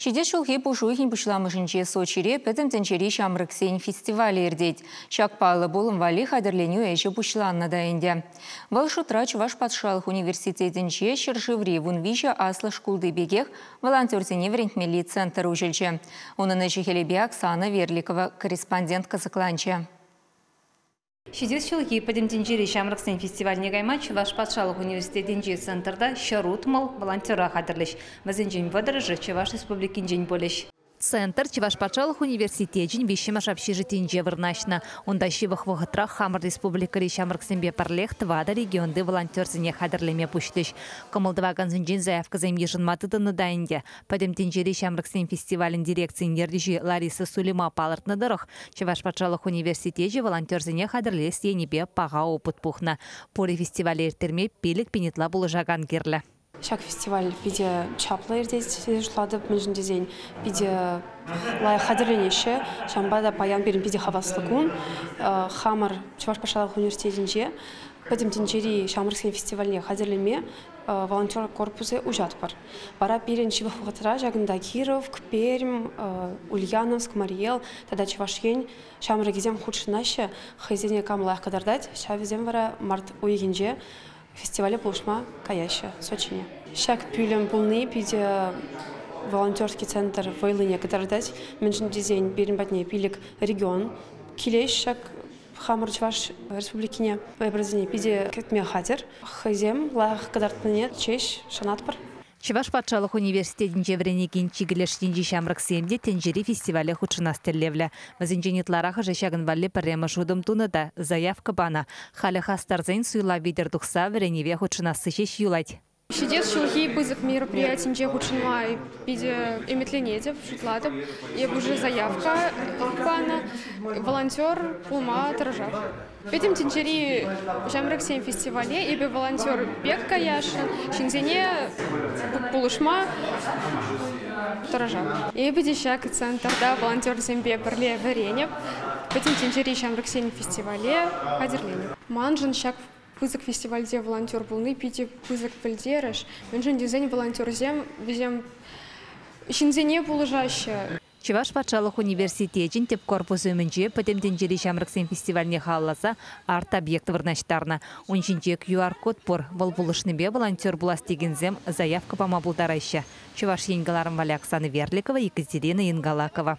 Ҫитес ҫулхи пуш уйӑхӗн пуҫламӑшӗнче Сочире Пӗтӗм тӗнчери ҫамрӑксен фестивалӗ иртет. Ҫак паллӑ пулӑм валли хатӗрленӳ ӗҫӗ пуҫланнӑ та ӗнтӗ. Вӑл шутра Чӑваш патшалӑх университетӗнче ҫӗршыври вун виҫӗ аслӑ шкулти пекех волонтерсене вӗрентмелли центр уҫӑлчӗ. Унӑн ӗҫӗ-хӗлӗпе Оксана Верликова корреспондент кӑсӑкланчӗ. Ҫитес ҫулхи Пӗтӗм тӗнчери ҫамрӑксен фестивальне кайма Чӑваш патшалӑх университетӗнчи центрта ҫӗр утмӑл волонтера хатӗрлӗҫ. Вӗсенчен вӑтӑрӑшӗ Чӑваш Республикинчен пулӗҫ. Центр Чӑваш патшалӑх университечӗн виҫҫӗмӗш общежитинче вырнаҫнӑ. Унта ҫывӑх вӑхӑтрах хамӑр республикӑри ҫамрӑксемпе пӗрлех тӑватӑ регионти волонтерсене хатӗрлеме пуҫлӗҫ. Кӑмӑл тӑвакансенчен заявкӑсем йышӑнма тытӑннӑ та ӗнтӗ. Пӗтӗм тӗнчери ҫамрӑксен фестивалӗн дирекцийӗн ертӳҫи Лариса Сулима палӑртнӑ тӑрӑх, Чӑваш патшалӑх университечӗ волонтерсене хатӗрлес енӗпе паха опыт пухнӑ. Пурӗ фестивале ирттерме пилӗк пин ытла пулӑшакан кирлӗ. Ҫак фестиваль питӗ чаплӑ иртет тесе шутлатӑп, мӗншӗн тесен питӗ лайӑх хатӗрленеҫҫӗ. Ҫавӑнпа та паян пирӗн питӗ хаваслӑ кун. Хамӑр Чӑваш патшалӑх университетӗнче Пӗтӗм тӗнчери ҫамрӑксен фестивальне хатӗрлеме волонтер корпусӗ уҫатпӑр. Вара пирӗн ҫывӑх вӑхӑтра ҫакӑнта Киров, Пермь, Ульяновск, Мариэл тата Чӑваш Ен ҫамрӑкӗсем хутшӑнаҫҫӗ, хӑйсене кам лайӑх кӑтартать, ҫав вӗсем вара март уйӑхӗнче фестивале пулӑшма каяҫҫӗ Сочине. Ҫак пӳлӗм пулни питӗ волонтерский центр вӑйлине кӑтартать, мӗншӗн тесен пирӗн патне пилӗк регион килет ҫак Хамӑр Чӑваш Республикине вӑйпӑрсене питӗ кӗтме хатӗр. Хӑйсем лайӑх кӑтартнине ҫеҫ шанатпӑр. Чӑваш патшалӑх университетӗнче вӗренекен чикӗ леш енчи ҫамрӑксем те тӗнчери фестивале хутшӑнас тӗллевлӗ. Вӗсенчен ытларахӑшӗ ҫакӑн валли пӗрремӗш утӑм тунӑ та заявка панӑ. Халӗ хастарсен суйлав витӗр тухса вӗренӗве хутшӑнасси ҫеҫ юлать. Ҫитес ҫулхи пысӑк мероприятинче хутшӑнма питӗ ӗмӗтленетӗп, шутлатӑп. Эп уже заявка панӑ, волонтер пулма тӑрӑшах. Пӗтӗм тӗнчери ҫамрӑксен фестивале эпӗ волонтер пек каясшӑн, ҫынсене пулӑшма тӑрӑшах. Эпӗ те ҫак центрта волонтерсемпе пӗрле вӗренӗп, Пӗтӗм тӗнчери ҫамрӑксен фестивале хатӗрленӗп. Маншӑн ҫак Пысӑк фестивальте волонтер пулни питӗ пысӑк пӗлтерӗш, мӗншӗн тесен волонтерсем вӗсем ҫынсене пулӑшаҫҫӗ. Чӑваш патшалӑх университечӗн тӗп корпусӗ умӗнче Пӗтӗм тӗнчери ҫамрӑксен фестивальне халалласа арт-объект вырнаҫтарнӑ. Ун ҫинче QR-код пур, вӑл пулӑшнипе волонтер пулас текенсем заявка пама пултараҫҫӗ, Чӑваш Ен кӑларӑм валли Оксана Верликова, Екатерина Ингалакова.